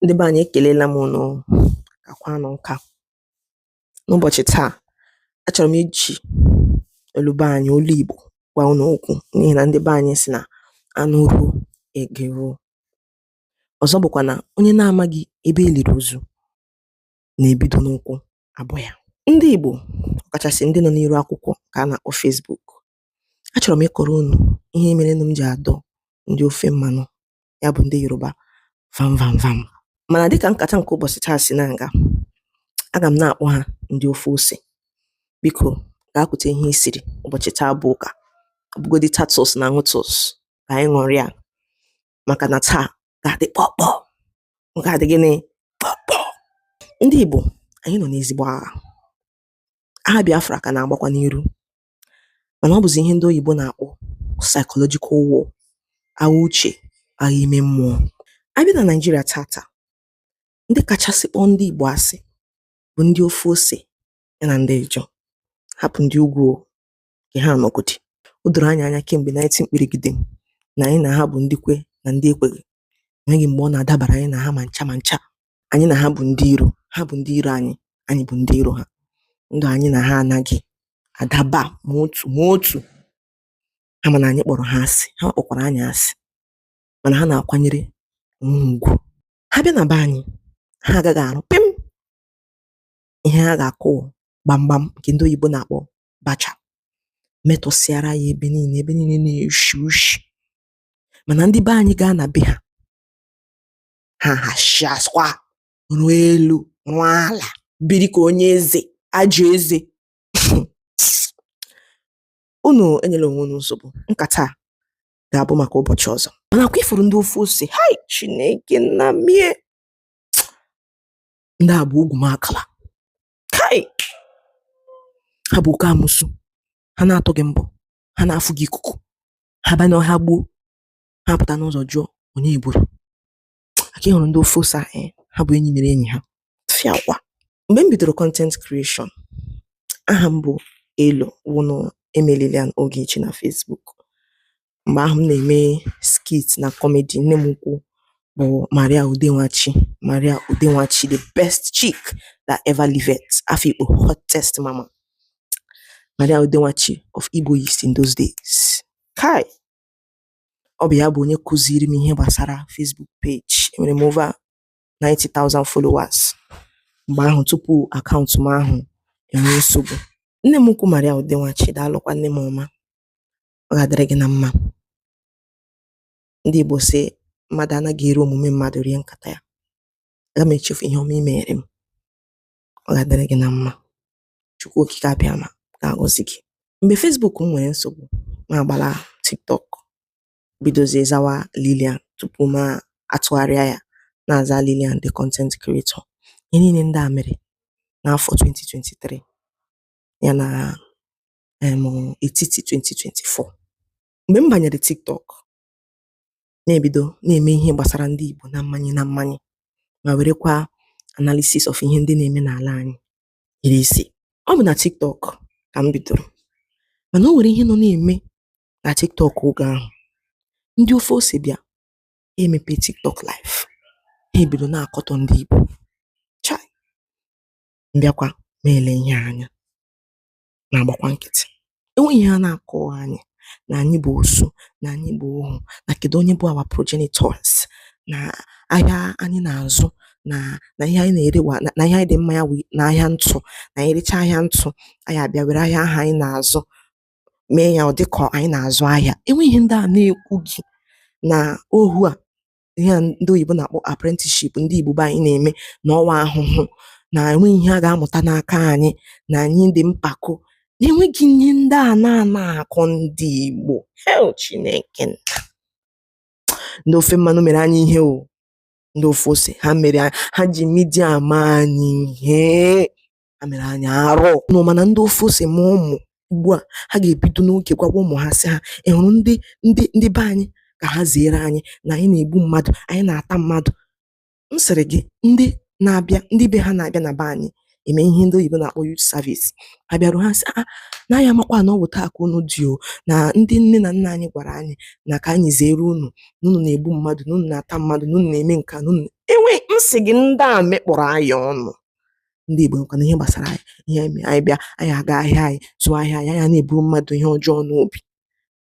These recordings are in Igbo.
Ndị be anyị ekelela m ụnụ kakwanụ nka. N'ụbọchị taa, achọrọ m iji olu be anyị, olu Igbo gwa ụnụ okwu n'ihi na ndị be anyị si na anụ ruo ege ruo. Ọzọ bụkwa na onye na-amaghị ebe e liri ozu na-ebido n'ụkwụ abọ ya. Ndị Igbo ọkachasị ndị nọ n'iru akwụkwọ ka a na-akpọ Facebook achọrọ m ịkọrọ unu ihe mere nụ m ji adọ ndị ofe mmanụ ya bụ ndị yoruba vam vam vam mana dịka nkata nke ụbọchị taa si na-aga aga m na-akpọ ha ndị ofe ose biko gaa kute ihe i siri ụbọchị taa bụ ụka ọ bụgodi tatus na ṅụtus ka anyị ṅụrịa maka na taa ga-adị kpọkpọ ọ ga-adị gịnị kpọkpọ ndị igbo anyị nọ n'ezigbo agha agha biafra ka na-agbakwa n'iru mànà ọ bụ̀zị̀ ihe ndị oyìbo nà-àkpọ psychological war agha uchè agha ime mmụọ a bịa nà Naịjirịa tata ndị kachasị kpọọ ndị ìgbò asị bụ̀ ndị ofe osè ya nà ndị ịjọ hapụ̀ ndị ugwū o kà ha nọ̀gòdì o dòrò anyị̄ anya kem̀gbè nineteen kpìrìgìdìm nà ànyị nà ha bụ̀ ndị kwe nà ndị ekwèghi enweghi m̀gbè ọ nà-àdabàrà ànyị nà ha mà ncha mà ncha anyị na ha bụ ndị iro ha bụ ndị iro anyị anyị bụ ndị iro ha ndụ anyị na ha anaghị adaba ma otu ma otu ha ma na anyị kpọrọ ha asị ha kpọkwara anyị asị mana ha na-akwanyere onwe ha ugwu ha bịa na be anyị ha agaghị arụ pịm ihe ha ga-akụ gbamgbam nke ndị oyibo na-akpọ bacha metọsịara ya ebe niile ebe niile na-eshi ushi mana ndị be anyị gaa na be ha ha hasịakwa rụọ elu rụọ ala biri ka onye eze ajọ eze unu enyela onwe unu nsogbu nkata ga-abụ maka ụbọchị ọzọ manakwa i furu ndị ofe ose hai chineke nna m e ndị a bụ ugwumagala kai ha bụ oke amụsụ ha na-atụ gị mbọ ha na-afụ gị ikuku ha baa n'ọhịa gbuo ha pụta n'ụzọ jụọ onye e gburu aka ị hụrụ ndị ofe ose eh, ha bụ enyi mere enyi ha fịakwa mgbe m bidoro content creation aha m bụ elo wụnụ eme Lilian Ogechi na Facebook mgbe ahụ m na-eme skit na kọmedi nne m ukwu bụ Maria Ude Nwachi Maria Ude Nwachi the best chick that ever lived Afikpo hottest mama Maria Ude Nwachi of Ebonyi State in those days kai ọ bụ ya bụ onye kụziiri m ihe gbasara Facebook page enwere m over 90,000 followers mgbe ahụ tupu akaụntụ m ahụ enwee nsogbu nne m ukwu Maria Udenwachi daalụkwa nne m ọma ọ ga-adịrị gị na mma ndị Igbo sị mmadụ anaghị eri omume mmadụ rie nkata ya aga m echefu ihe ọma i mere m ọ ga-adịrị gị na mma Chukwu Okike Abịama ga-agọzi gị. Mgbe Facebook m nwere nsogbu, m agbala TikTok bidozie zawa Lilian tupu m atụgharịa ya na-aza Lilian the content creator. Ihe niile ndị a mere n'afọ 2023 ya na em etiti 2024. Mgbe m banyere TikTok, na-ebido na-eme ihe gbasara ndị Igbo na mmanye na mmanye ma werekwa analysis of ihe ndị na-eme n'ala anyị iri isi ọ bụ na tiktok ka m bidoro mana o nwere ihe nọ na-eme na tiktok oge ahụ ndị ofe ose bịa emepe tiktok live ha ebido na-akọtọ ndị igbo chai m bịakwa na-ele ihe anya na-agbakwa nkịtị enweghị ihe a na-akọ anyị na anyị bụ osu na anyị bụ ohu na kedu onye bụ our progenitors na ahịa anyị na-azụ na na ihe anyị na-erewa na ihe anyị dị mma ya na ahịa ntụ na anyị rechaa ahịa ntụ anyị abịa were ahịa ahụ anyị na-azụ mee ya ọ dịka anyị na-azụ ahịa enweghị ihe ndị a na-ekwughị na ohu a ihe a ndị oyibo na-akpọ apprenticeship ndị Igbo be anyị na-eme na ọ wụ ahụhụ na enweghị ihe a ga-amụta n'aka anyị na anyị dị mpako na enweghị ihe ndị a na-ana akọ ndị Igbo hei Chineke nna ndị ofe mmanụ mere anyị ihe o ndị ofe ose ha mere ha ji media mee anyị ihe ha mere anyị arụ unu ma na ndị ofe ose mụọ ụmụ ugbu a ha ga-ebido n'oge gwawa ụmụ ha sị ha ị hụrụ ndị ndị ndị be anyị ka ha zeere anyị na anyị na-egbu mmadụ anyị na-ata mmadụ m sịrị gị ndị na-abịa ndị be ha na-abịa na be anyị eme ihe ndị oyibo na-akpọ youth service ha bịaruo ha sị a ah, na anyị amakwa na ọ bụ otu a ka unu dị o na ndị nne na nna anyị gwara anyị na ka anyị zeere unu na unu na-egbu mmadụ na unu na-ata mmadụ na unu na-eme nke a na unu enwe m sị gị ndị a mekpọrọ anyị ọnụ ndị Igbo nkwana ihe gbasara anyị ihe anyị mee anyị bịa anyị aga ahịa anyị zụọ ahịa anyị anyị ana eburu mmadụ ihe ọjọọ n'obi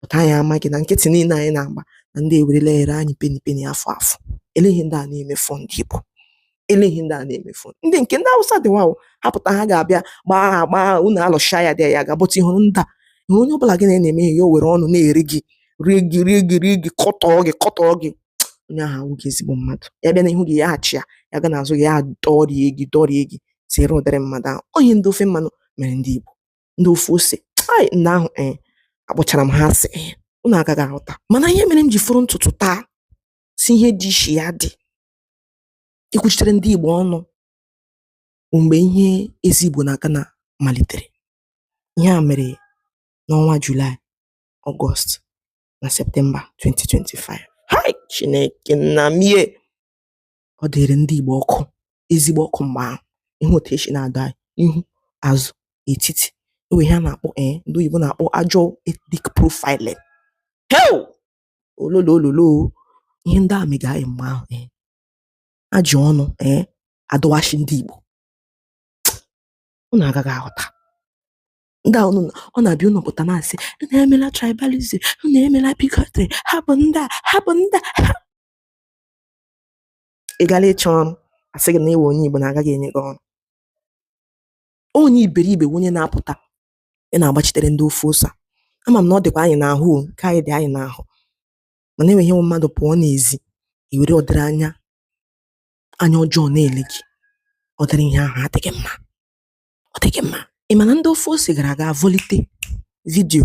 pụta anyị amaghị na nkịtị niile anyị na-agba na ndị a ewerela ere anyị peni peni afụ afụ enweghị ihe ndị a na-emefu ndị Igbo enweghị ihe ndị a na-emefu ndị nke ndị Awụsa dị wawo ha pụta ha ga-abịa gbaa ha gbaa unu alụcha ya dị ya ga-abụta ị hụrụ ndị a ihe onye ọbụla gị na-eme ya o were ọnụ na-eri gị rie gị rie gị rie gị kọtọọ gị kọtọọ gị onye ahụ awụghị ezigbo mmadụ ya bịa n'ihu gị ya achịa ya ga n'azụ gị ya dọrie gị dọrie gị zere ụdịrị mmadụ ahụ onye ndị ofe mmanụ mere ndị Igbo ndị ofe ose ai ndị ahụ ee eh, akpọchara m ha asị ee eh, unu agaghị aghọta mana ihe mere m ji fọrọ ntutu taa sị ihe dị ishi ya dị ikwuchitere ndị Igbo ọnụ mgbe ihe eze Igbo na Ghana malitere ihe a mere n'ọnwa Julaị Ọgọst na Septemba 2025 hai Chineke nna m ee ọ dịrị ndị Igbo ọkụ ezigbo ọkụ mgbe ahụ ị hụ otu e si na-adọ anyị ihu azụ etiti e nwe ihe a na-akpọ ee eh, ndị oyibo na-akpọ ajọ ethnic profiling hewu ololo ololo ihe ndị a mega anyị mgbe ahụ ee eh. e ji ọnụ ee eh, adọwasị ndị Igbo unu agaghị aghọta ndị a ọ na-abụ unu pụta na-asị na emela tribalism na emela bigotry ha bụ ndị a ha bụ ndị a ị gara ịchọ ọrụ a sị gị na ị wụ onye Igbo na agaghị enye gị ọrụ onye iberibe onye na-apụta ị na-agbachitere ndị ofe ose ama m na ọ dịkwa anyị n'ahụ nke anyị dị anyị n'ahụ mana enweghị ihe wụ mmadụ pụọ n'ezi e were ọdịrị anya anya ọjọọ na-ele gị ọdịrị ihe ahụ adịghị mma ọ dịghị mma ị ma na ndị ofe ose gara aga vọlite vidio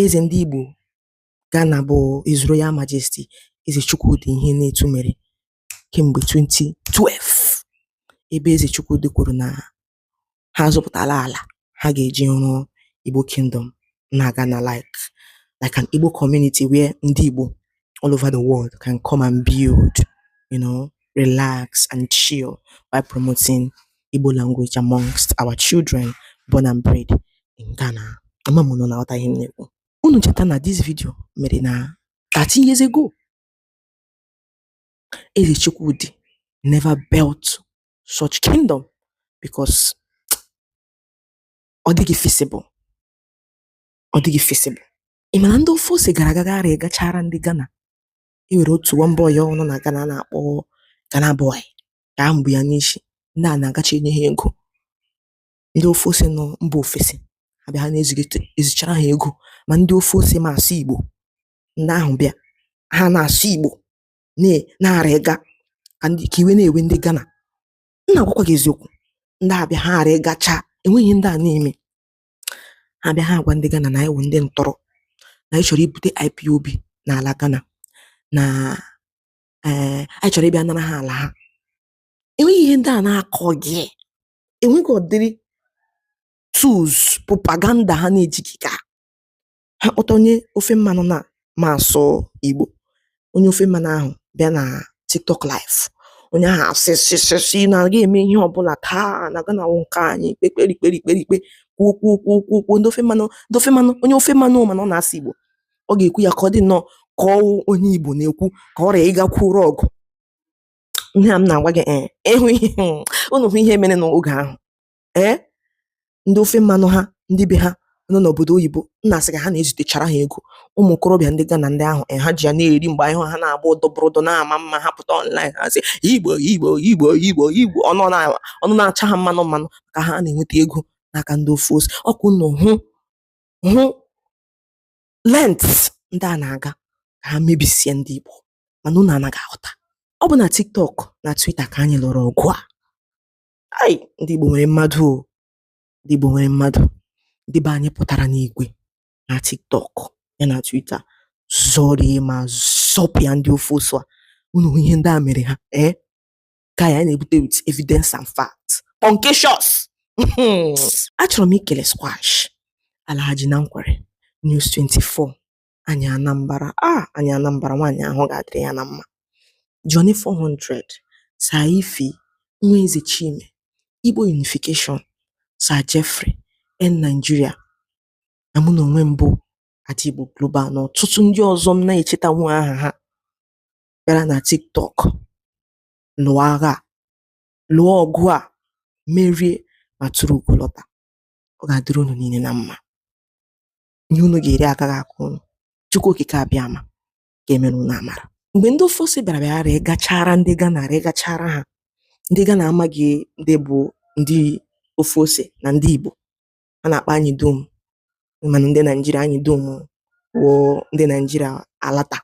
eze ndị Igbo Ghana bụ His Royal Majesty Eze Chukwudi Ihenetu mere kemgbe 2012 ebe Eze Chukwudi kwuru na ha zụpụtala ala ha ga-eji rụọ Igbo Kingdom na Ghana like like an Igbo community where ndị Igbo all over the world can come and build, you know, relax and chill by promoting Igbo language amongst our children born and bred in Ghana. Ama m unu na-aghọta ihe m na-ekwu. Unu cheta na this video mere na 13 years ago. Eze Chukwudi never built such kingdom because ọ dịghị feasible. ọ dịghị feasible. Ị ma na ndị ofe ose gara aga gaara ịgachaara ndị Ghana e nwere otu nwa boy ahụ nọ na Ghana a na-akpọ Ghana boy ka ahụ bụ ya n'isi ndị a na-agacha enye ha ego ndị ofe ose nọ mba ofesi abịa ha na-ezigete ezichara ha ego ma ndị ofe ose ma asụ Igbo ndị ahụ bịa ha na-asụ Igbo na- na-ara ịga ka ndị- ka iwe na-ewe ndị Ghana m na-agwakwa gị eziokwu ndị a bịa ha ara ịgacha enweghị ihe ndị a na-eme ha bịa ha agwa ndị Ghana na anyị wụ ndị ntọrọ na anyị chọrọ ibute IPOB n'ala Ghana na ee eh, anyị chọrọ ịbịa nara ha ala ha enweghị ihe ndị a na-akọghị enweghị ọdịrị tools propaganda ha na-ejighị ka ha kpọta onye ofe mmanụ na ma asụ Igbo onye ofe mmanụ ahụ bịa na TikTok live onye ahụ asị sịsịsị na a ga-eme ihe ọbụla taa na Ghana wụ nke anyị kpekperi kperi kperi kpe kwuo kwuo kwuo kwuo kwuo ndị ofe mmanụ ndị ofe mmanụ onye ofe mmanụ mana ọ na-asụ Igbo ọ ga-ekwu ya ka ọ dị nnọọ ka ọ wụ onye Igbo na-ekwu ka ọ rịa ịga kwuoro ọgụ ihe a m na-agwa gị ee ịhụ ihe unu hụ ihe mere n'oge ahụ ee ndị ofe mmanụ ha ndị be ha nọ n'obodo oyibo nna a sị ka ha na-ezitechara ha ego ụmụ okorobịa ndị Ghana ndị ahụ eh, ha ji ya na-eri mgbe anyị hụ ha na-agba ụdọbụrụdọ na-ama mma ha pụta online ha sị igbo igbo igbo igbo igbo ọnụ na- ọnụ na-acha ha mmanụ mmanụ ka ha na-enweta ego n'aka ndị ofe ose ọ kwa unu hụ length ndị a na-aga ka ha mebisie ndị igbo mana unu anaghị aghọta ọ bụ na tiktok na twitter ka anyị lụrụ ọgụ a ai ndị Igbo nwere mmadụ o ndị Igbo nwere mmadụ ndị be anyị pụtara n'igwe na TikTok ya na Twitter zọrie ma zọpịa ndị ofe ose a unu hụ ihe ndị a mere ha ee ka anyị na-ebute with evidence and fact concasious achọrọ m ikele squash Alhaji na Nkwerre News 24 anyị anambara a ah, anyị anambara nwaanyị ahụ ga-adịrị ya na mma Johnny 400 Sir Ife nwa eze Chime Igbo Unification Sir Jeffrey in Nigeria na mụ na onwe m bụ Adaigbo Global na ọtụtụ ndị ọzọ m na-echetanwu aha ha bịara na TikTok lụọ agha a lụọ ọgụ a merie ma turu ugo lọta ọ ga-adịrị unu niile na mma ihe unu ga-eri agaghị akọ unu chukwu okike abịama ga-emere unu amara mgbe ndị ofe ose bịara bịara rịgachara ndị Ghana rịgachara ha ndị Ghana amaghị ndị bụ ndị ofe ose na ndị igbo a na-akpọ anyị dum mana ndị naijiria anyị dum wụ ndị naijiria alata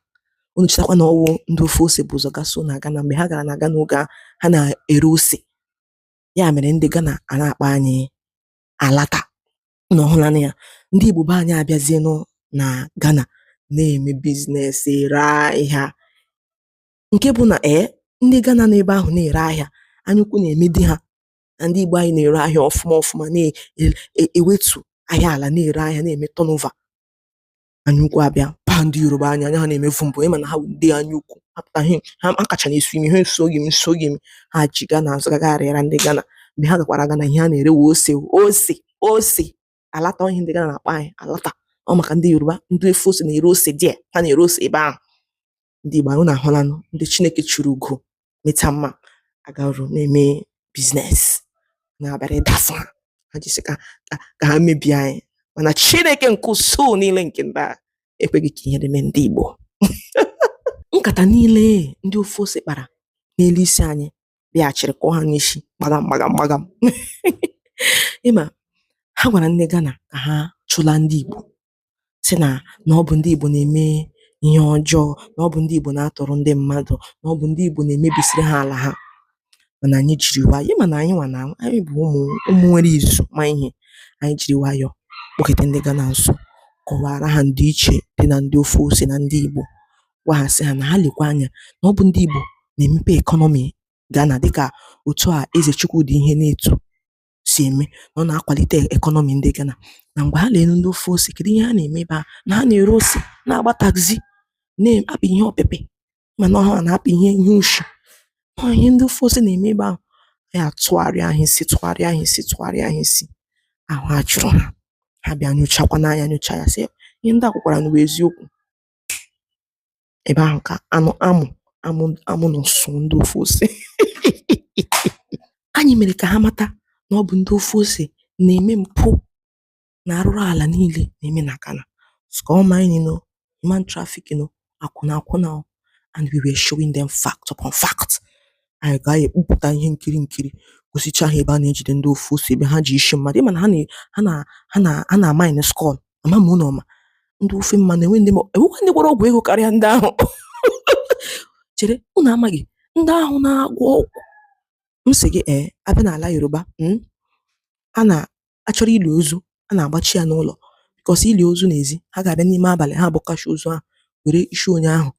unu chetakwa na ọ wụ ndị ofe ose bu ụzọ gaso na Ghana mgbe ha gara na Ghana oge a, ha na-ere ose ya mere ndị Ghana a na-akpọ anyị alata Unu ahụlanụ ya, ndị Igbo be anyị abịazienụ na Ghana na-eme business, ere ahịa nke bụ na ee eh, ndị Ghana nọ ebe ahụ na-ere ahịa anyaukwu na-emedị ha na ndị Igbo anyị na-ere ahịa ọfụma ọfụma na-ewetu e, e ahịa ala na-ere ahịa na-eme turnover. anyaukwu abịa baa ndị yoruba anya anya ha na-emevu mbụ ị ma na ha bụ ndị anyaukwu apụta ha ha akacha na-esu imi ha esoghị m esoghị m ha ji gaa n'azụ gaga arịara ndị Ghana mgbe ha gakwara Ghana ihe ha na-ere wụ ose ose ose alata ihe ndị Ghana na-akpọ anyị alata ọ maka ndị yoruba ndị ofe ose na-ere ose there ha na-ere ose ebe ahụ ndị Igbo anyị ụnụ ahụlanụ ndị Chineke chụrụ ugo meta mma agarụ na-eme business na-abịara ịdasa ha jisi ike ka ha mebie anyị mana Chineke nke usuu niile nke ndị agha ekweghị ka ihe na-eme ndị Igbo nkata niile ndị ofe ose kpara n'elu isi anyị bịaghachiri kụọ ha n'isi gbagam gbagam gbagam ị ma ha gwara ndị Ghana ka ha chụla ndị Igbo sị nà nà ọ bụ̀ ndị Ìgbò nà-ème ihe ọjọọ, nà ọ bụ̀ ndị Ìgbò nà-atọ̀rọ̀ ndị mmadụ̀, nà ọ bụ̀ ndị Ìgbò nà-èmebìsiri ha àlà ha, mànà ànyị jìrì wayọ̀, ị mà nà ànyị nwà nà ànyị bụ̀ ụmụ̀ ụmụ̀ nwere ìzù ma ihe, ànyị jìrì wayọ̀ kpọkète ndị Ghana nso, kọwàra ha ǹdì ichè dị nà ndị ofe ose nà ndị Ìgbò, gwa ha sị ha nà ha lèkwa anya nà ọ bụ̀ ndị Ìgbò nà-èmepe economy Ghana dịkà òtù a Eze Chukwudi Ihenetu sì ème nà ọ nà-akwàlite economy ndị Ghana nà m̀gbè ha nà-èle ndị ofe osè kèdụ ihe ha nà-ème ebe ahụ̀ nà ha nà-ère osè na-àgba taxi na-apị ihe ọ̀pịpị̀ mà nà ọ ha nà-apị ihe ihe oshì ọọ̀ ihe ndị ofe osè nà-ème ebe ahụ̀ ànyị àtụgharịa ha isi tụgharịa ha isi tụgharịa ha isi àhụ àjụrụ hā ha bịa nyochakwanụ anyā nyocha yā sị ihe ndị à kwùkwàrànụ wụ eziokwū ebe ahụ ka anụ amụ amụ amụ nọ sụọ ndị ofe ose anyị mere ka ha mata na ọ bụ ndị ofe ose na-eme mpụ na arụrụ ala niile na-eme na Ghana skull mining o human trafficking o akwụna akwụna o and we were showing them fact upon fact anyị ga-ekpupụta ihe nkiri nkiri gosicha ha ebe a na-ejide ndị ofe ose ebe ha ji isi mmadụ ị ma na ha na ha na ha na ha na-amine skull ama m ụnụ ọ ma ndị ofe mmanụ enwe ndị ma enwekwa ndị gwọrọ ọgwụ ego karịa ndị ahụ chere ụnụ amaghị ndị ahụ na-agwọ ọgwụ m sị gị ee a bịa n'ala Yoruba hmm, a na-achọrọ ili ozu a na-agbachi ya n'ụlọ because i lie ozu n'ezi ha ga-abịa n'ime abalị ha abọkacha ozu ahụ were isi onye ahụ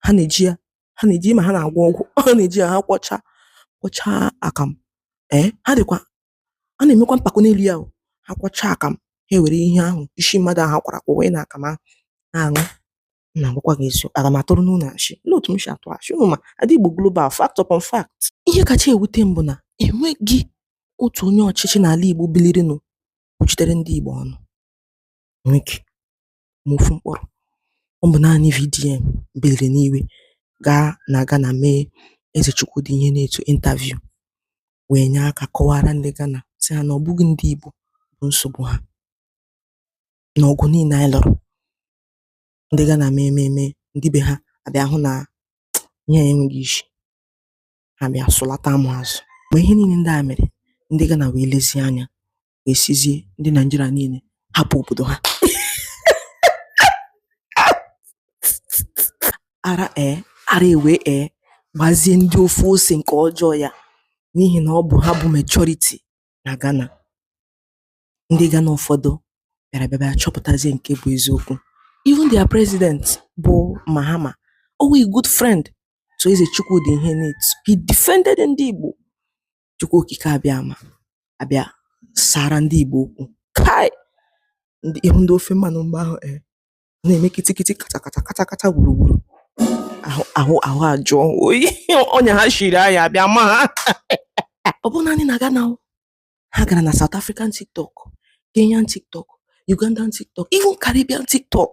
ha na-eji ya ha na-eji ma ha na-agwọ ọgwụ ha na-eji ya ha kwọcha kwọcha akamụ ee ha dịkwa a na-emekwa mpako n'elu ya o ha kwọchaa akamụ ha ewere ihe ahụ isi mmadụ ahụ kwara kwụwa ya n'akamụ na-aṅụ na-agwakwa gị ezi aga m atụrụ ụnụ asị olee otu m si atụ asị ụnụ ma adị Igbo global fact upon fact ihe kacha ewute m bụ na enweghị otu onye ọchịchị n'ala Igbo bilirinụ kwuchitere ndị Igbo ọnụ enweghị ma ofu mkpụrụ ọ bụ naanị VDM biliri n'iwe gaa na Ghana mee Eze Chukwudi Ihenetu interview wee nye aka kọwaara ndị Ghana sị ha na ọ bụghị ndị Igbo bụ nsogbu ha na ọgụ niile anyị lụrụ ndị Ghana mee mee mee ndị be ha abịa hụ na ihe enweghị isi ha bịa sụlata amụ azụ mgbe ihe niile ndị a mere ndị Ghana wee lezie anya ga-esizi ndị Naịjirịa niile hapụ obodo ha ara ee eh, ara ewee gbazie ndị ofe ose nke ọjọọ ya n'ihi na ọ bụ ha bụ majority na Ghana ndị Ghana ụfọdụ bịara bịa bịa chọpụtazie nke bụ eziokwu even their president bụ Mahama always good friend to Eze Chukwudi Ihenetu he defended ndị Igbo Chukwu okike abịama abịa sara ndị Igbo okwu kai ị hụ ndị ofe mmanụ mgbe ahụ e na-eme kitikiti kata kata kata kata gburugburu ahụ ajụọ oyi ọnya ha shiri anyị abịa ma ha ọ bụ naanị na Ghana o. ha gara na South African TikTok Kenyan TikTok Ugandan TikTok even Caribbean TikTok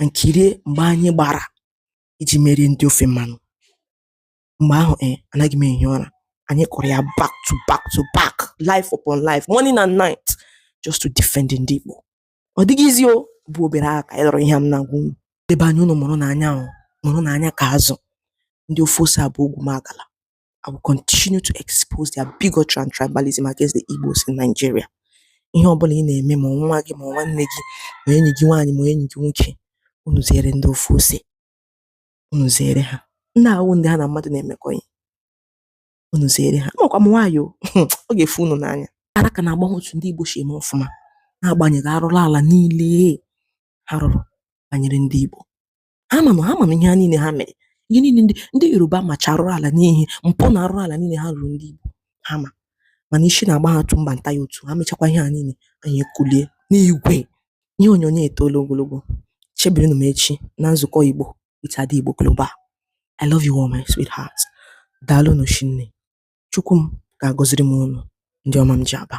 and kirie mgba anyị gbara iji merie ndị ofe mmanụ mgbe ahụ e anaghị m ehi ụra anyị kụrụ ya back to back to back live upon live morning and night just to defend ndị Igbo ọ dịghị easy o bụ obere agha ka anyị lụrụ ihe m na-agwa unu ndị be anyị unu mụrụnụ anya o mụrụnụ anya ka azụ ndị ofe ose a bụ ogwumagala I will continue to expose their bigotry and tribalism against the Igbos in Nigeria. Ihe ọ bụla ị na-eme ma nwa gị ma nwanne gị ma enyi gị nwaanyị ma enyi gị nwoke unu zere ndị ofe ose unu zere ha ndị a abụghị ndị ha na mmadụ na-emekọ ihe unu zere ha makwa m nwaanyị o ọ ga-efu unu n'anya ara ka na-agba ha otu ndị Igbo si eme ọfụma na-agbanyeghị arụrụ ala niile ha rụrụ banyere ndị Igbo ha ma na ha ma na ihe a niile ha mere ihe niile ndị ndị yoruba macha arụrụ ala n'ihi mpụ na arụrụ ala niile ha rụrụ ndị igbo ha ma mana isi na-agba ha otu mba nta ya otu ha mechakwa ihe a niile anyị ekulie n'igwe ihe onyonyo etoola ogologo chebirinụ m echi na nzukọ igbo with ada igbo global i love you all my sweetheart daalụnụ shinne chukwu m ga-agọziri m unu ndị ọma m ji aba